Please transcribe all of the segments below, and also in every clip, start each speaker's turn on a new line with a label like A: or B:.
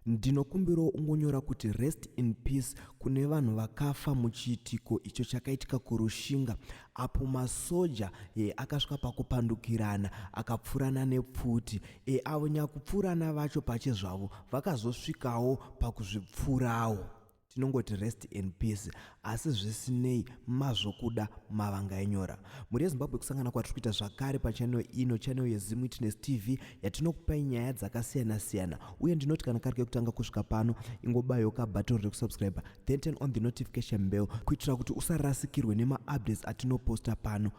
A: Ndinokumbirawo ungonyora kuti rest in peace kune vanhu vakafa muchiitiko icho chakaitika kurushinga apo masoja e, akasvika pakupandukirana akapfurana nepfuti e, avo nyakupfurana vacho pache zvavo vakazosvikawo pakuzvipfurawo. tinongoti rest in peace asi zvisinei mazvokuda mavanga enyora mhuri yezimbabwe kusangana kwatiri kuita zvakare pachanel ino chanel yezimu witness tv yatinokupai nyaya dzakasiyana siyana uye ndinoti kana kari kekutanga kusvika pano ingobayoka button rekusubscribe then turn on the notification bell kuitira kuti usarasikirwe nemaupdates atinoposta pano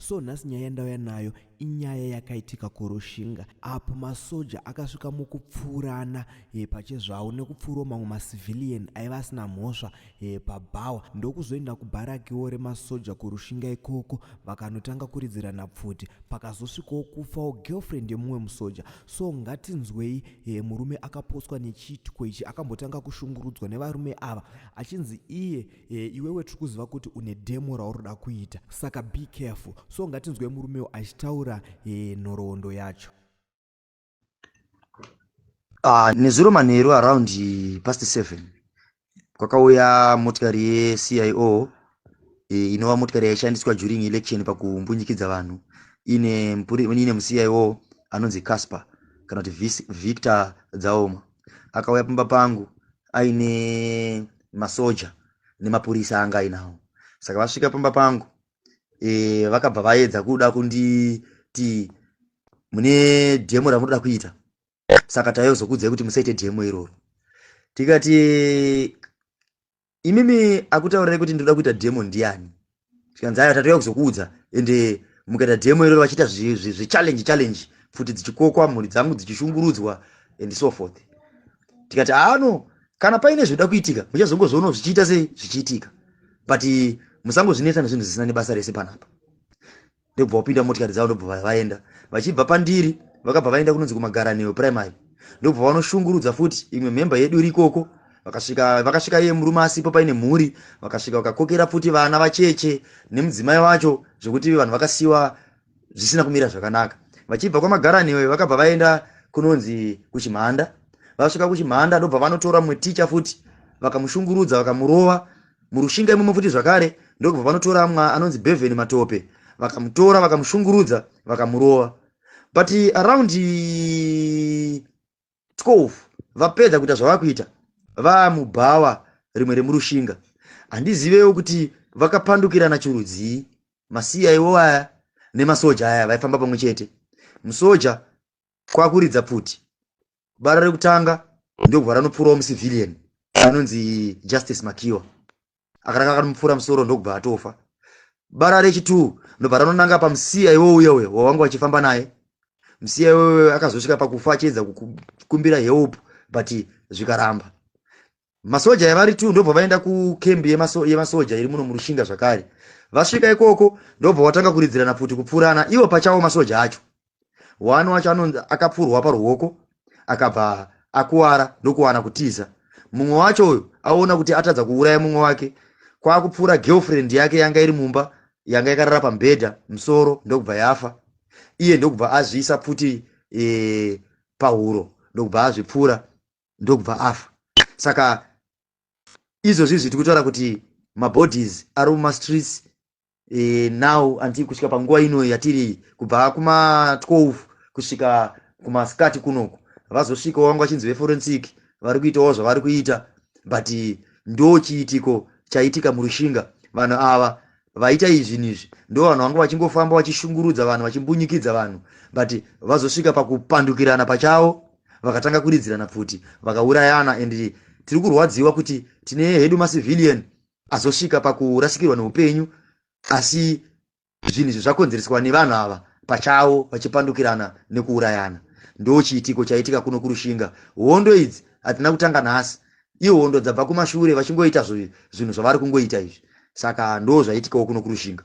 A: so nhasi nyaya yandauya nayo inyaya yakaitika kurushinga apo masoja akasvika mukupfuurana e, pachezvavo nekupfuurawo mamwe macivilian aiva asina mhosva e, pabhawa ndokuzoenda kubharakiwo remasoja kurushinga ikoko vakanotanga kuridzirana pfuti pakazosvikawo kufawo girlfriend yemumwe musoja So ngatinzwei e, murume akapotswa nechiitiko ichi akambotanga kushungurudzwa nevarume ava achinzi iye e, iwewe tiri kuziva kuti une demo rauroda kuita saka be careful so ngatinzwei murume uyu achitaura e, nhoroondo yacho
B: uh, nezuro manheru around past seven kwakauya motikari yecio e, inova motikari yaishandiswa during election pakumbunyikidza vanhu ine ine mucio anonzi casper kana kuti victor dzaoma akauya pamba pangu aine masoja nemapurisa anga ainawo saka vasvika pamba pangu e, vakabva vaedza kuda kunditi mune demo ramunoda kuita saka taizokuudzai kuti musaite demo iroro tikati imimi akutaurirai kuti ndinoda kuita demo ndiani tikanzi aya tatouya kuzokuudza ende mukaita demo iroro vachiita zvechallenge challenge pfuti dzichikokwa mhuri dzangu dzichishungurudzwa and so forth tikati aano kana paine zvinoda kuitika muchazongozviono zvichiita sei zvichiitika but musangozvinetsa nezvinhu zvisina nebasa rese panapa ndobva vapinda motikari dzavo ndobva vaenda vachibva pandiri vakabva vaenda kunonzi kumagaraneo primary ndobva vanoshungurudza futi imwe mhemba yedu iri ikoko vakasvika vakasvika iye murume asipo paine mhuri vakasvika vakakokera futi vana vacheche nemudzimai wacho zvekuti vanhu vakasiwa zvisina kumira zvakanaka vachibva kwamagaraneo vakabva vaenda kunonzi kuchimhanda vasvika kuchimhanda ndobva vanotora mumwe ticha futi vakamushungurudza vakamurova murushinga imomo futi zvakare ndokubva vanotora mwa anonzi beven matope vakamutora vakamushungurudza vakamurova but around 12 vapedza kuita zvava kuita vamubhawa rimwe remurushinga handizivewo kuti vakapandukirana chirudzii masiya iwo aya nemasoja aya vaifamba pamwe chete musoja kwakuridza pfuti bara rekutanga ndokubva ranopfuurawo mucivilian anonzi justice makiwa akaranga akanomupfuura musoro ndokubva atofa bara rechitoo ndobva ranonanga pamusiya iwouya uya wawanga wachifamba naye musiya iwoyo akazosvika pakufa achiedza kukumbira help but zvikaramba masoja yavari tu ndobva vaenda kukembi yemasoja iri muno murushinga zvakare vasvika ikoko ndobva watanga kuridzirana pfuti kupfurana ivo pachawo masoja acho wani wacho anonzi akapfurwa paruoko akabva akuwara ndokuwana kutiza mumwe wacho uyu aona kuti atadza kuuraya mumwe wake kwaakupfuura girlfriend yake yanga iri mumba yanga yakarara pamubhedha musoro ndokubva yafa iye ndokubva azviisa pfuti e, pahuro ndokubva azvipfuura ndokubva afa saka izvozvi zviti kutaura kuti mabodies ari mumastreets e, now anti kusvika panguva ino yatiri kubva kuma12 kusvika kumasikati kunoku vazosvikawo vanga vachinzi veforensic vari kuitawo zvavari kuita but ndo chiitiko chaitika murushinga vanhu ava vaita izvi nizvi ndo vanhu vanga vachingofamba vachishungurudza vanhu vachimbunyikidza vanhu but vazosvika pakupandukirana pachavo vakatanga kuridzirana pfuti vakaurayana and tiri kurwadziwa kuti tine hedu macivilian azosvika pakurasikirwa neupenyu asi zvinhu izvi zvakonzereswa nevanhu ava pachavo vachipandukirana nekuurayana ndo chiitiko chaitika kuno kurushinga hondo idzi hatina kutanga nhasi ihondo dzabva kumashure vachingoita zvinhu zvavari kungoita izvi saka ndo zvaitikawo kuno kurushinga